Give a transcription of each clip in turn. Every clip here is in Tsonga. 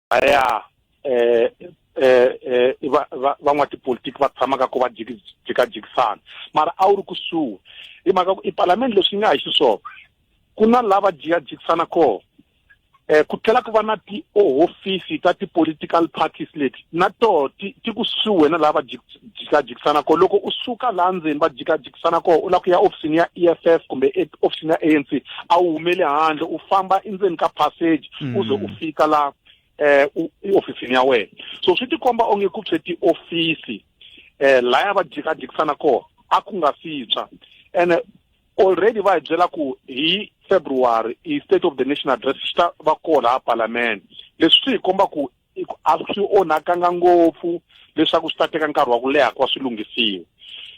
a ya eh eh, eh va va van'watipolitiki va tshamaka ku va jikajikisana mara a wu ri kusuhi hi mhaka ku i palamende leswi nga hi xiswona ku na lava jikajikisana kona eh ku tlhela ku va na tihofisi ta ti-political parties leti na toho ti ti kusuhi na lava jikajikisana ko loko u suka laha ndzeni va jikajikisana ko u lava ku ya ofisini ya e f f kumbe e, ofisini ya a n c a wu humeli handle u famba endzeni ka passage mm. u ze u fika la eh ofisini ya wena so swi tikomba onge ku pse tiofisi eh laya va jikajikisana ko a ku nga sitswa ene already va hi byela ku hi february i state of the nation address xi ta va koho laha palamende leswi swi hi komba ku i ku a swi onhakanga ngopfu leswaku swi ta teka nkarhi wa ku leha ku va swi lunghisiwa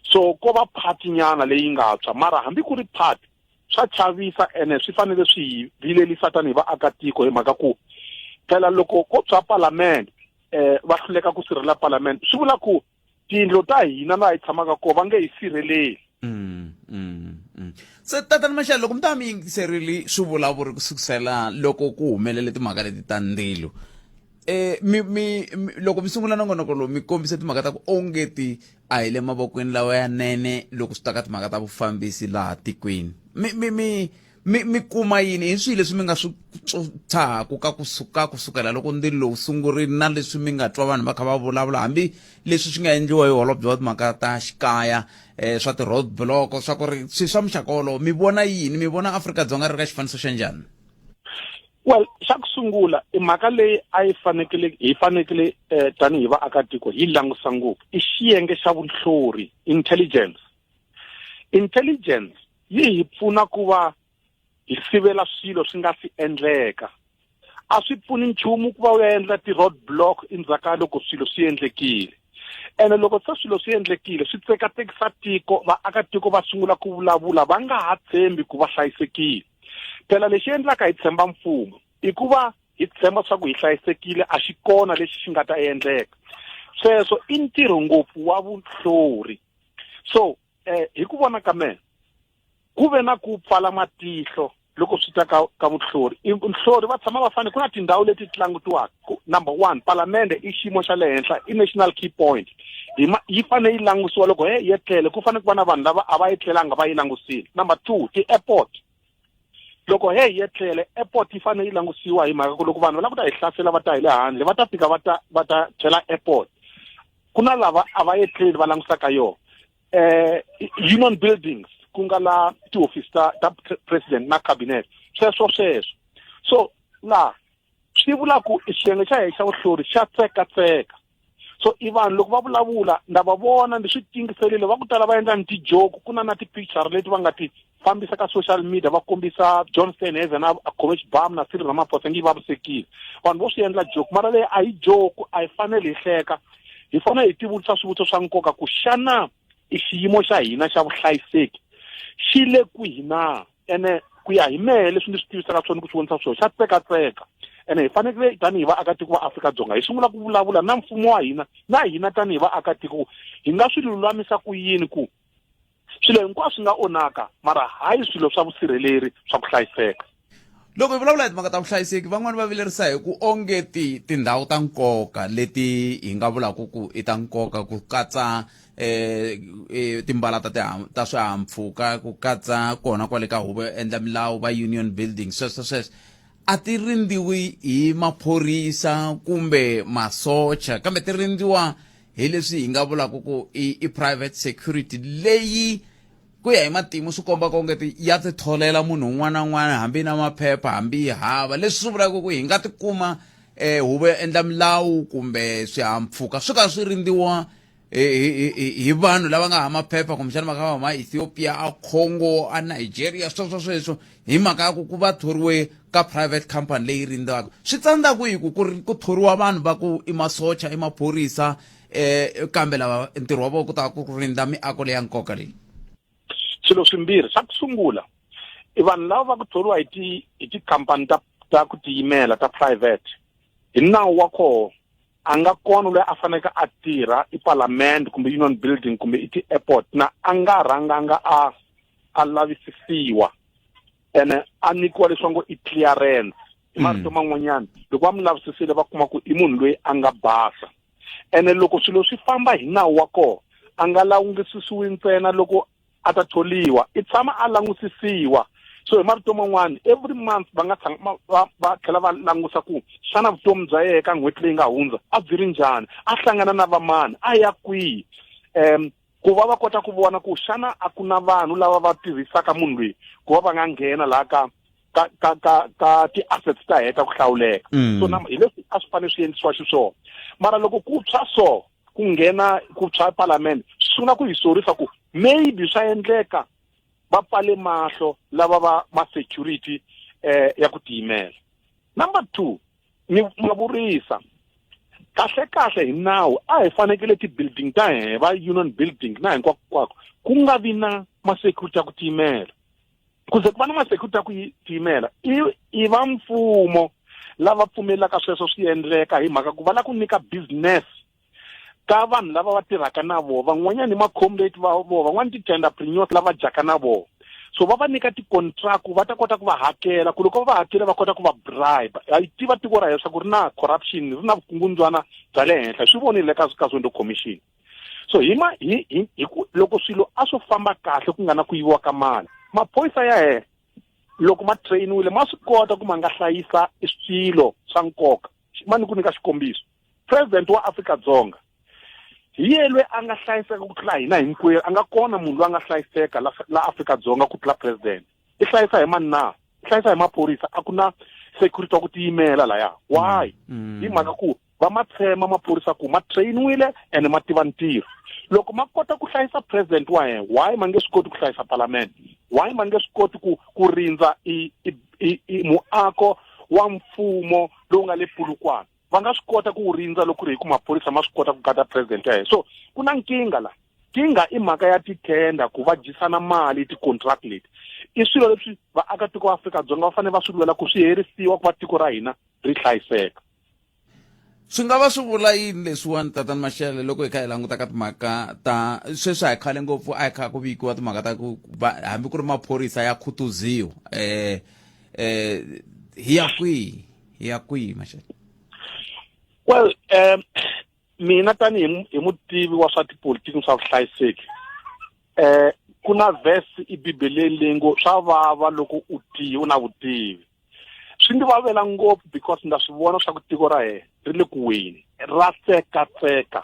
so ko va phati nyana leyi nga tshwa mara hambi ku ri phati swa chavisa ene swi fanele swi hi vilelisa tanihi vaakatiko hi mhaka ku phela loko ko tshwa palamende um va hluleka ku sirhelela palamende swi vula ku tiyindlo ta hina laha hi tshamaka kona va nge hi sirheleli mm, mm, mm. se tatana maxele loko mi ta mi yingiserile swivulavuri ku sukusela loko ku humelele timhaka leti ta ndzilo eh mi mi loko mi sungula nongonoko lowu mi kombise timhaka ta ku onge ti a hi le mavokweni lawa ya nene loko swi ta ka timhaka ta vufambisi laha tikweni mi mi mi mi mi kuma yini hi swihi leswi mi nga swi tshahaku ka kusuka kusukela loko ndzi lowu sungurini na leswi mi nga twa vanhu va kha va vulavula hambi leswi swi nga endliwa hi holobye wa timhaka ta xikaya um swa ti-road block swa ku ri swi swa muxaka wolowo mi vona yini mi vona afrika-dzonga ri ka xifaniso xa njhani well xa ku sungula i mhaka leyi a yi fanekele hi fanekele um tanihi vaakatiko hi langutisa ngopfu i xiyenge xa vunhlori intelligence intelligence yi hi pfuna ku va hi sivela swilo swi nga si endleka a swi pfuni nchumu ku va u ya endla ti-road block endzhaka loko swilo swi endlekile ene loko se swilo swi endlekile swi tsekatekisa tiko vaakatiko va sungula ku vulavula va nga ha tshembi ku va hlayisekile phela lexi endlaka hi tshemba mfumo i ku va hi tshemba swa ku hi hlayisekile a xi kona lexi xi nga ta endleka sweswo i ntirho ngopfu wa vuhlori so eh hi ku vona ka mina ku ve na ku pfala matihlo loko swi ta ka ka vuhlori vuhlori va tshama va fane ku na tindhawu leti ti langutiwaka number one palamende i xiyimo xa le henhla i national key point yi fane yi langutiwa loko he yi etlele ku fane ku va na vanhu lava a va etlelanga va yi langusile number two ti-airport loko he hi etlele airport yi fanele yi langutisiwa hi mhaka ku loko vanhu va lava ku ta hi hlasela va ta hi le handle va ta fika va ta va ta chela airport ku na lava a va etleli va langutisaka yona eh union buildings ku nga la tihofisi ta ta president na cabinet sweswo sweswo so la swi vula ku xiyenge xa hina xa vuhlori xa tseka tseka so i vanhu loko va vulavula nda va vona ndi swi tingiselile va ku tala va endla ni tijoke ku na na ti-picture leti va nga ti fambisa ka social media va kombisa john stenheze na coach bam na siri ramaphosa ngi vavisekile vanhu vo swi endla joke mara leyi a yi joke a yi fanele hi hleka hi fanele hi tivutisa swivutiso swa nkoka ku xana i xiyimo xa hina xa vuhlayiseki xi le kwihi na ene ku ya hi mehe leswi ndzi swi tivisaka swona ku swi vonisa swona xa tsekatseka ene hi fanekele tanihi vaakatiko va afrika-dzonga hi sungula ku vulavula na mfumo wa hina na hina tanihi vaakatiko hi nga swi lulamisa ku yini ku swilo hinkwaswo swi nga onhaka mara hayi swilo swa vusirheleri swa ku hlayiseka loko hi vulavula hi timhaka ta vuhlayiseki van'wani va vilerisa hi ku onge ti tindhawu ta nkoka leti hi nga vulaka ku i ta nkoka ku katsa eh, eh timbala ta ta swihahampfhuka ku katsa kona kwale ka huvo yo endla milawu va union building sweswo sweswo a ti rindziwi hi maphorisa kumbe masocha kambe ti rindziwa hi leswi hi nga vulaka ku i, i private security leyi ku ya hi matimu swi komba kongeti ya ti tholela munhu un'wana na un'wana hambi na maphepha hambi yi hava leswi swi vulaka ku hi nga tikuma um eh, huvo ya endla milawu kumbe swihampfhuka swi ka swi rindziwa hi hi- hi- hi vanhu lava nga hama phepha kumbexana va nga hama ethiopia a congo a nigeria sweswo sweswo hi mhaka ya ku ku va thoriwe ka private company leyi rindzaka swi tsandza kwihi ku ku ri- ku thoriwa vanhu va ku i masocha i maphorisa um kambe lava ntirho wa vona ku ta ku rindza miako leya nkoka leyi swilo swimbirhi xa ku sungula i vanhu lava va ku thoriwa hi ti hi tikhampani ta ta ku tiyimela ta private hi nawu wa koho a nga kona loyi a faneke a tirha i palamende kumbe union building kumbe i ti-airport na a nga rhanganga a a lavisisiwa ene a nyikiwa leswi va ngo i clearance hi marito hmm. man'wanyana loko va mi lavisisile va kuma ku i munhu loyi a nga basa ene loko swilo swi famba hi nawu wa kona a nga lawungisisiwi ntsena loko a ta tholiwa i tshama a langusisiwa so hi marito man'wana every month va nga tshama va va tlhela va langusa ku xana vutomi bya yena ka n'hweti leyi nga hundza a byi ri njhani a hlangana na vamani a ya kwihi um ku va va kota ku vona ku xana a ku na vanhu lava va tirhisaka munhu loyi ku va va nga nghena laha ka ka ka ka ka ti-assets ta heta ku hlawuleka mm. so na hi leswi a swi fanele swi endlisiwa xiswona mara loko ku tshwa so ku nghena ku tshwa palamende swi sungula ku hi sorisa ku maybe swa endleka va pfale mahlo lava va ma security eh ya ku tiyimela number two ni mavurisa kahle kahle hi nawu a hi fanekele ti-building ta hina va union building na hinkwakwako ku nga vi na ma-security ya ku tiyimela kuze ku va na masecurity ya ku tiyimela i i va mfumo lava pfumelaka sweswo swi endleka hi mhaka ku va la ku nyika business ka vanhu lava va tirhaka na vona van'wanyana i ma-comrate va vona van'wana ti-tenderpreneurs lava dyaka na vona so va va nyika ti-contract ku va ta kota ku va hakela ku loko va va hakela va kota ku va bribe a yi tiva tiko ra heswa ku ri na corruption ri na vukungundzwana bya le henhla swi vonile ka ka zondo commission so hi ma hi hi hi ku loko swilo a swo famba kahle ku nga na ku yiviwa ka mali maphorisa ya hehla loko ma trainiwile ma swi kota ku ma nga hlayisa swilo swa nkoka ma ni ku nyika xikombiso president wa africa dzonga hi ye lweyi a nga hlayiseka ku tlula hina hinkwerhu a nga kona munhu loyi a nga hlayiseka la la afrika dzonga ku tlula president i hlayisa hi mani na i hlayisa hi maphorisa a ku na security wa ku tiyimela laya why mm. hi mhaka ku va ma tshema maphorisa ku ma trainiwile and ma tiva ntirho loko ma kota ku hlayisa president wa yena why ma nge swi koti ku hlayisa parliament why ma nge swi koti ku ku rindza i, i, i, i muako wa mfumo lowu nga le pulukwana va nga swi kota ku wu rindza loko ku ri hi ku maphorisa ma swi kota ku gada president ya hina so ku na nkingha la nkingha i mhaka ya titenda ku va dyisana mali ti-contract leti i swilo leswi vaakatiko va afrika-dzonga va fanele va swi lwela ku swi herisiwa ku va tiko ra hina ri hlayiseka swi nga va swi vula yini leswiwani tatani maxele loko hi kha hi languta ka timhaka ta sweswi a hi khale ngopfu a hi kha ku vikiwa timhaka ta ku hambi ku ri maphorisa ya khutuziwa um um hi ya kwihi hi ya kwihi maxele well um mina tanihi hi mutivi wa swa tipolitiki swa vuhlayiseki um ku na vhesi ibibeleni leyi ngo swa vava loko u tiyi u na vutivi swi ndzi vavela ngopfu because ndza swi vona swa ku tiko ra hina ri le ku weni ra tsekatseka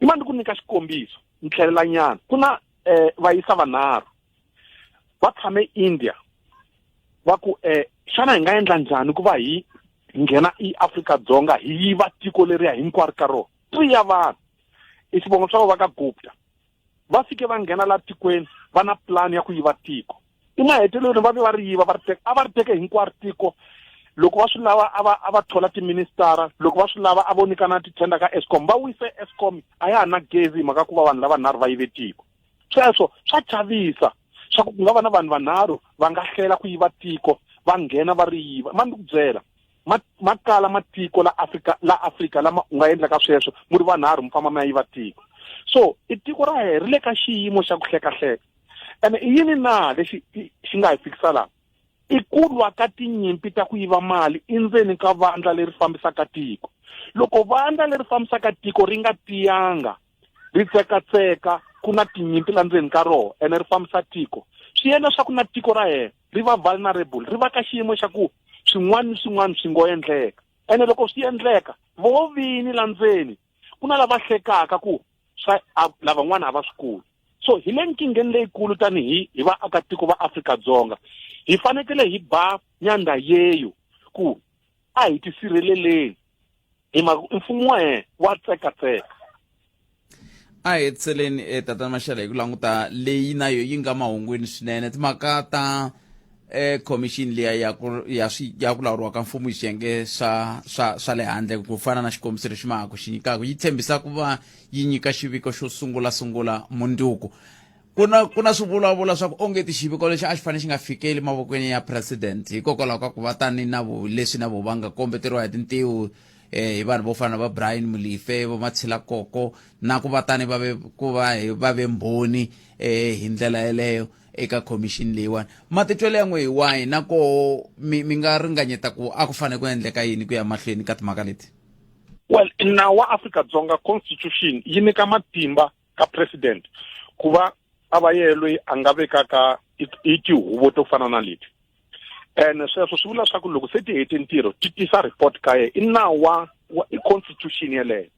i ma ndzi ku nyika xikombiso ni tlhelelanyana ku na um vayisa vanharhu va tshame India va ku eh xana hi nga endla njhani ku va hi nghena eAfrika Dzonga hi yiva tiko leriya hinkwaro ka rona three ya vanhu i xivongo swa va ka Gupta va fike va nghena la tikweni va na plan ya ku yiva tiko emahetelelweni va ve va ri yiva va ri teka a va ri teke hinkwaro tiko loko va swi lava a va a va thola tiministara loko va swi lava a vo nyikana ti-tender ka escom va wise escom a ya ha na gezi hi mhaka ku va vanhu lava nharhu va yive tiko sweswo swa chavisa swa ku ku nga va na vanhu vanharhu va nga hlela ku yiva tiko va nghena va ri yiva ma ni ku byela ma ma kala matiko la Afrika la Afrika lama u nga endlaka sweswo mu ri vanharhu mi famba mi ya yiva tiko so i tiko ra hina ri le ka xiyimo xa ku hlekahleka ene i yini na lexi xi nga hi fikisa laha i ku lwa ka tinyimpi ta ku yiva mali endzeni ka vandla leri fambisaka tiko loko vandla leri fambisaka tiko ri nga tiyanga ri tsekatseka ku na tinyimpi la ndzeni ka roho ene ri fambisa tiko swi yena swa ku na tiko ra yena ri va vulnerable ri va ka xiyimo xa ku swin'wana ni swin'wana swi ngo endleka ene loko swi endleka vo vini la ndzeni ku na lava hlekaka ku swa lavan'wana a va swi kuli so hi le nkingeni leyikulu tanihi hi vaakatiko va afrika dzonga hi fanekele hi ba nyandha yeyo ku a hi tisirheleleni hi mhaka ku mfumo wa yena wa tsekatseka a hi hetiseleni e tatana maxele hi ku languta leyi na yo yi nga mahungwini swinene timhaka ta e commission liya ya ku ya swi ya ku lawuriwa ka mfumo hi xiyenge swa swa swa le handle ku fana na xikombiso lexi mahaka xi nyikaka yi tshembisa ku va yi nyika xiviko xo sungula sungula mundzuku ku na ku na swivulavula swa ku onge xiviko lexi a xi fanele xi nga fikeli mavokweni ya president hikokwalaho ka ku va tani na leswi na vo va nga kombeteriwa hi tintiwu um hi vanhu vo fana na va brian mulife vo matshila koko na ku va tani va ve ku va va ve mbhoni um hi ndlela yeleyo eka khomixini leyiwani matitwelo ya n'we hi wahi na ko mi mi nga ringanyeta ku a ku fanele ku endleka yini ku ya mahlweni ka timhaka leti well nawu wa afrika dzonga constitution yi nyika matimba ka president ku va a va yeye loyi a nga vekaka i tihuvo to fana na leti ene sweswo swi vula leswaku loko se ti hete ntirho ti tisa report ka yena i nawu wa wa i constitution yeleyo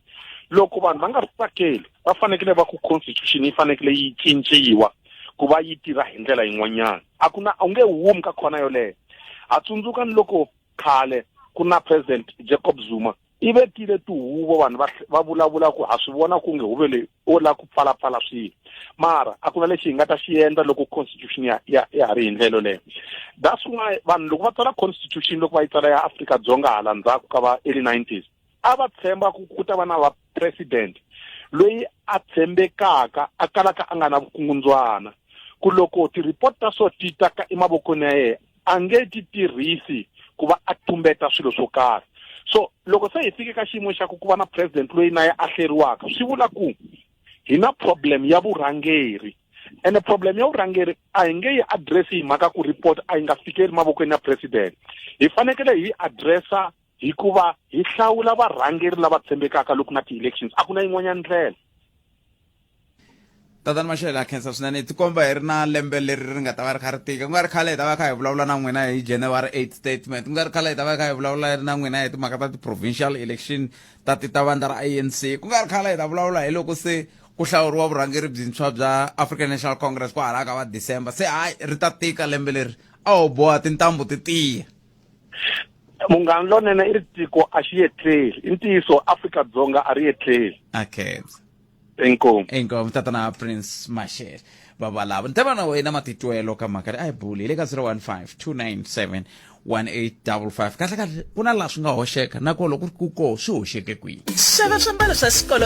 loko vanhu va nga ri tsakeli va fanekele va ku constitution yi fanekele yi cinciwa ku va yi tirha hi ndlela yin'wanyana a ku na u nge humi ka khona yoleyo ha tsundzuka ni loko khale ku na president jacob zuma yi vekile tihuvo vanhu va va vulavula ku ha swi vona ku nge huve leyi o la ku pfalapfala swilo mara a ku na lexi hi nga ta xi endla loko constitution ya ya ya ha ri hi ndlelo leyo that's why vanhu loko va tsala constitution loko va yi tsala ya afrika dzonga hala ndzhaku ka va early nineties a va tshemba ku ku ta va na va president loyi a tshembekaka a kalaka a nga na vukungundzwana ku loko ti-report ta so ti ta ka emavokweni ya yena a nge ti tirhisi ku va a tumbeta swilo swo karhi so loko se hi fike ka xiyimo xa ku ku va na president loyi na ya ahleriwaka swi vula ku hi na problem ya vurhangeri ene problem ya vurhangeri a hi nge yi address hi mhaka ku report a yi nga fikeli mavokweni ya president hi fanekele hi yi addressa hikuva hi hlawula varhangeri lava tshembekaka loko na ti-elections a ku na yin'wanyana ndlela tatani maxele ha khensa swinene hi tikomba hi ri na lembe leri ri nga ta va ri kha ri tika ku nga ri khale hi ta va kha hi vulavula na n'wina hi january 8 statement ku nga ri khale hi ta va kha hi vulavula na n'wina hi timhaka ta ti-provincial election ta ti ta vandla ra anc ku nga ri khale hi ta vulavula hi loko se ku hlawuriwa vurhangeri byintshwa bya african national congress ku halaka va december se hayi ri ta tika lembe leri a ho boha tintambu ti tiya munghana lonene i ri tiko a xi yetleli i ntiyiso afrika dzonga a ri yetleli okay inkomu inkomu tatana prince mashele babalava ni ta va na wena matitwelo ka mhaka leyi a yi buli hi le ka 015 297 1855 kahle kahle ku na laha swi nga hoxeka nakona loko ku koo swi hoxeke kwihi xava swiambalo swa xikolo